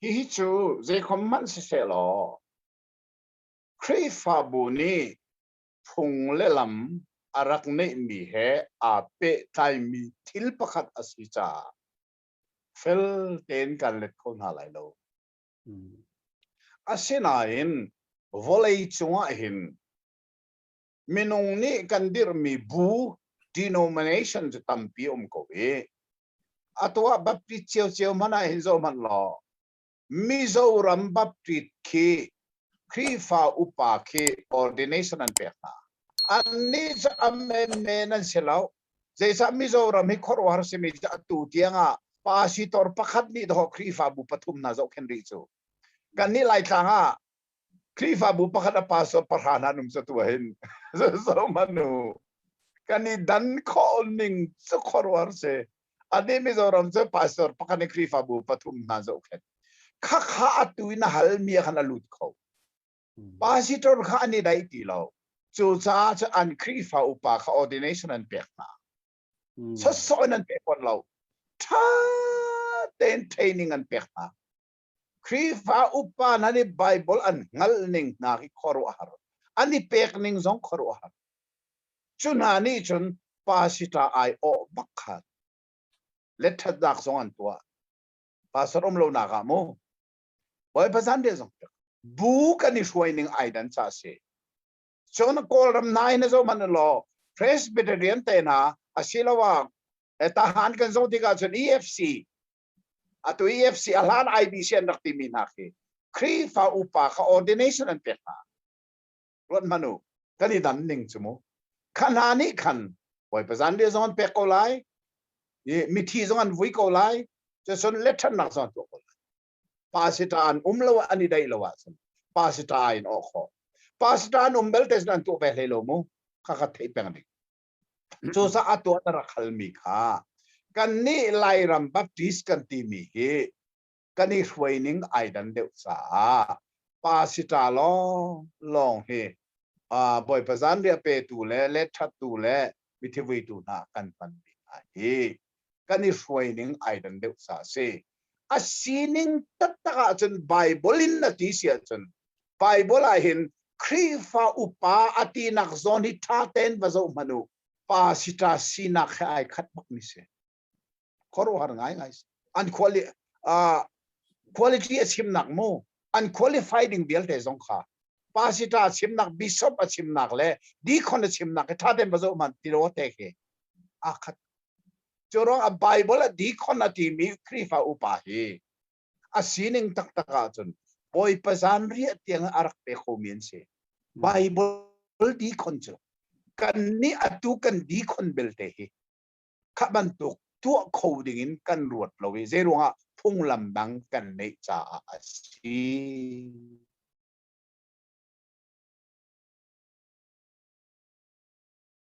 Hihi cu zeikhom hmanh sisehlaw Khrihfabu nih phung le lam a rak neihmi he aa pehtlaimi thil pakhat a si caah fel tein kan let kho hna lai lo. Asinain vawlei cungah hin minung nih kan dirhmi bu denomination cu tampi um ko i a tuah baptist cio cio hmanh ah hin zo hmanh law Mizoram baptist khi Khrihfa upa khi ordination an pek hna annih cu amen men an si lo zeicah Mizoram hi khuaruahhar simi cu atu tiangah pasitor pakhat nih daw Khrihfabu pathum hna zohkhen rih cu kannih Laitlang ah Khrihfabu pakhat a pastor pahra hna an um catu hin zohmanu kan i dan khawh ning cu khuaruar si adi Mizoram cu pastor pakhat in Khrihfabu pathum hna zohkhet khakha atu in hal mi khan a lut kho pastor kha an i dai ti lo cucaah cu an Khrihfa upa kha ordination an pek hna sosai an pek kon lo tha ten training an pek hna Khrihfa upa nan i Baibal an hngalh ning hna khi khuaruahhar. An i pek ning zong khuaruahhar. Cu hna nih cun pasita aiawh bak khan le ṭhatnak zong an tuah. Pastor um lo nak ah mu. Bawipa zanriah zong bu kan i hruai ning ai dan ca si. Cun Kawlram nai na zo man law Presbyterian te na asiloah tahan kan zo tikah cun EFC Atu EFC a hlan IBC an rak timi hna khi Khrihfa upa kha ordination an pek hna. Ruathmanu, kan i dan ning cu mu. Kha hna nih khan Bawipa zanriah zong an pek ko lai, i mithi zong an vui ko lai, cun lethannak zong an tuah ko lai. Pasita an um lo an i daih lo ahcun pasita in awk khawh. Pasita an um belte cun an tuah ve hlei lo mu. Kha kha theih peng ding. cucaah tuah na rak halmi kha kannih Lairam Baptist kan timi hi kan i hruai ning ai dan deuh caah pasita lawng lawng hi uh, Bawipa zanriah petu le let thattu le mithi vuitu hna kan hmanmi hna hi kan i hruai ning ai dan deuh sa si a sining taktak ahcun Bible in na ti si ahcun Bible ah hin Khrihfa upa a ti nak zawn hi tha ten va zo manu pa si ta sinak he ai khat bak ni se khuaruhar ngai ngai an quali uh, quality a sim nak mu an qualify ding vialte zong kha pasita chimnak bishop a chimnak le deacon a chimnak ke thaten bazo man tiro te ke akhat Cu ruangah Bible a deacon a timi Khrihfa upa hi a sining taktak ahcun Bawipa zanriah tiang a rak pe khomi an si. Bible deacon cu kan nih atu kan deacon belte hi kha bantuk tuah kho dingin kan ruat lo i zei ruangah phunglam dang kan neih caah a si.